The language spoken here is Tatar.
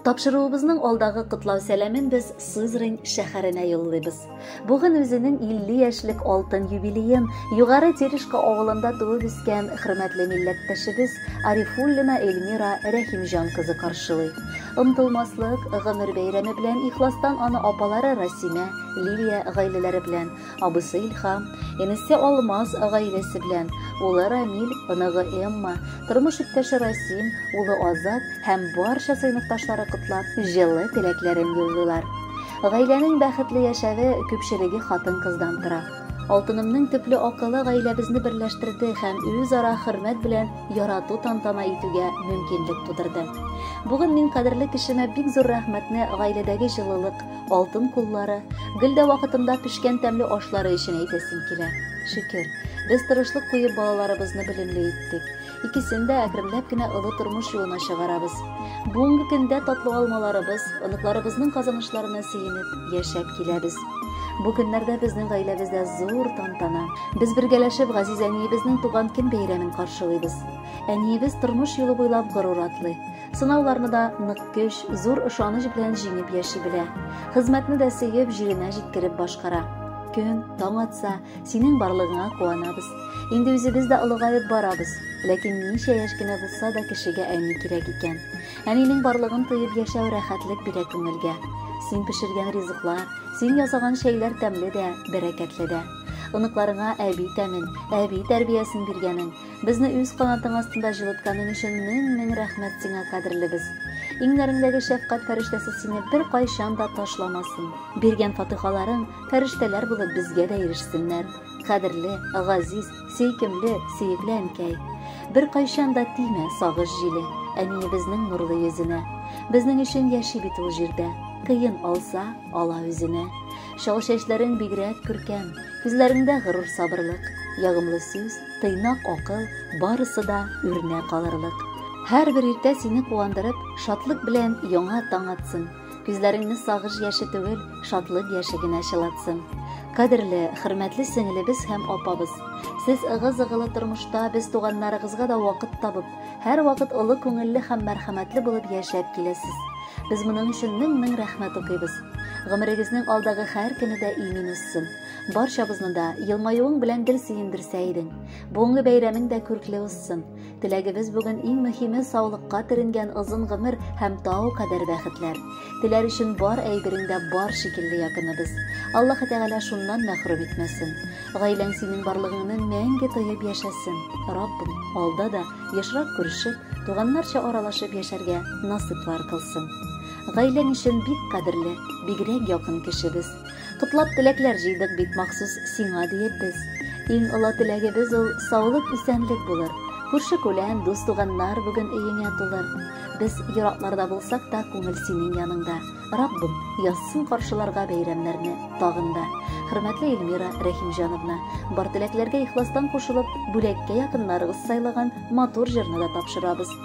Тапшыруыбызның алдагы котлау сәламен без Сызрань шәһәренә юллыйбыз. Бүген үзенең 50 яшьлек алтын юбилеен Югары Терешка авылында туып үскән хөрмәтле милләттәшебез Арифуллина Эльмира Рәхимҗан кызы каршылый. Омтылмаслык гомер бәйрәме белән ихластан аны апалары Расимә, Лилия гаиләләре белән Абысы Илхам, энесе Алмаз гаиләсе белән, улы Рамил, оныгы Эмма, тормыш иптәше Расим, улы Азат һәм барча сыйныфташлары котлап, җылы теләкләрен юллыйлар. Гаиләнең бәхетле яшәве күпчелеге хатын-кыздан тора. Алтынымның төпле акылы гаиләбезне берләштерде һәм үзара хөрмәт белән ярату тантана итүгә мөмкинлек тудырды. Бүген мин кадерле кешемә бик зур рәхмәтне гаиләдәге җылылык, алтын куллары, гел дә вакытында пешкән тәмле ашлары өчен әйтәсем килә. Шөкер, без тырышлык куеп балаларыбызны белемле иттек. Икесен дә әкренләп кенә олы тормыш юлына чыгарабыз. Бүгенге көндә татлы алмаларыбыз, оныкларыбызның казанышларына сөенеп, яшәп киләбез. Бу көннәрдә безнең гаиләбездә зур тантана. Без бергәләшеп газиз әниебезнең туган көн бәйрәмен каршылыйбыз. Әниебез тормыш юлы буйлап горур атлый. Сынауларны да нык көч, зур ышаныч белән җиңеп яши белә. Хезмәтне дә сөеп, җиренә җиткереп башкара. Көн таң атса, синең барлыгыңа куанабыз. Инде үзебез дә олыгаеп барабыз. Ләкин ничә яшь кенә булса да кешегә әни кирәк икән. Әнинең барлыгын тоеп яшәү рәхәтлек бирә күңелгә. Син пешергән ризыклар, син ясаган чәйләр тәмле дә, бәрәкәтле дә. Оныкларыңа әби тәмен, әби тәрбиясен биргәнең, Безне үз канатың астында җылытканың өчен мең-мең рәхмәт сиңа, кадерлебез. Иңнәреңдәге шәфкать фәрештәсе сине бер кайчан да ташламасын. Биргән фатыйхаларың фәрештәләр булып безгә дә ирешсеннәр. Кадерле, газиз, сөйкемле, сөекле әнкәй. Бер кайчан да тимә сагыш җиле әниебезнең нурлы йөзенә. Безнең өчен яши бит ул җирдә. Кыен алса, Ала үзенә. Чал чәчләрең бигрәк күркәм, Күзләреңдә горур сабырлык, Ягымлы сүз, тыйнак акыл, Барысы да үрнәк алырлык. Һәрбер иртә сине куандырып, Шатлык белән яңа таң атсын. Күзләреңне сагыш яше түгел, Шатлык яше генә чылатсын. Кадерле, хөрмәтле сеңелебез һәм апабыз! Сез ыгы-зыгылы тормышта без туганнарыгызга да вакыт табып, Һәрвакыт олы күңелле һәм мәрхәмәтле булып яшәп киләсез. Без моның өчен мең-мең рәхмәт укыйбыз. Гомерегезнең алдагы һәр көне дә имин узсын. Барчабызны да елмаюың белән гел сөендерсә идең. Бүгенге бәйрәмең дә күркле узсын. Теләгебез бүген иң мөһиме саулыкка төренгән озын гомер һәм тау кадәр бәхетләр. Теләр өчен бар әйберең дә бар шикелле якыныбыз. Аллаһы Тәгалә шуннан мәхрүм итмәсен. Гаиләң синең барлыгыңны мәңге тоеп яшәсен. Раббым, алда да ешрак күрешеп, туганнарча аралашып яшәргә насыйплар кылсын. Гаиләң өчен бик кадерле, бигрәк якын кешебез. Котлап теләкләр җыйдык бит махсус сиңа диеп без. Иң олы теләгебез ул саулык исәнлек булыр. Күрше күлән, дус туганнар бүген өеңә тулыр. Без еракларда булсак та күңел синең яныңда. Раббым язсын каршыларга бәйрәмнәрне тагын да. Хөрмәтле Эльмира Рәхимҗановна, бар теләкләргә ихластан кушылып, бүләккә якыннарыгыз сайлаган матур җырны да тапшырабыз.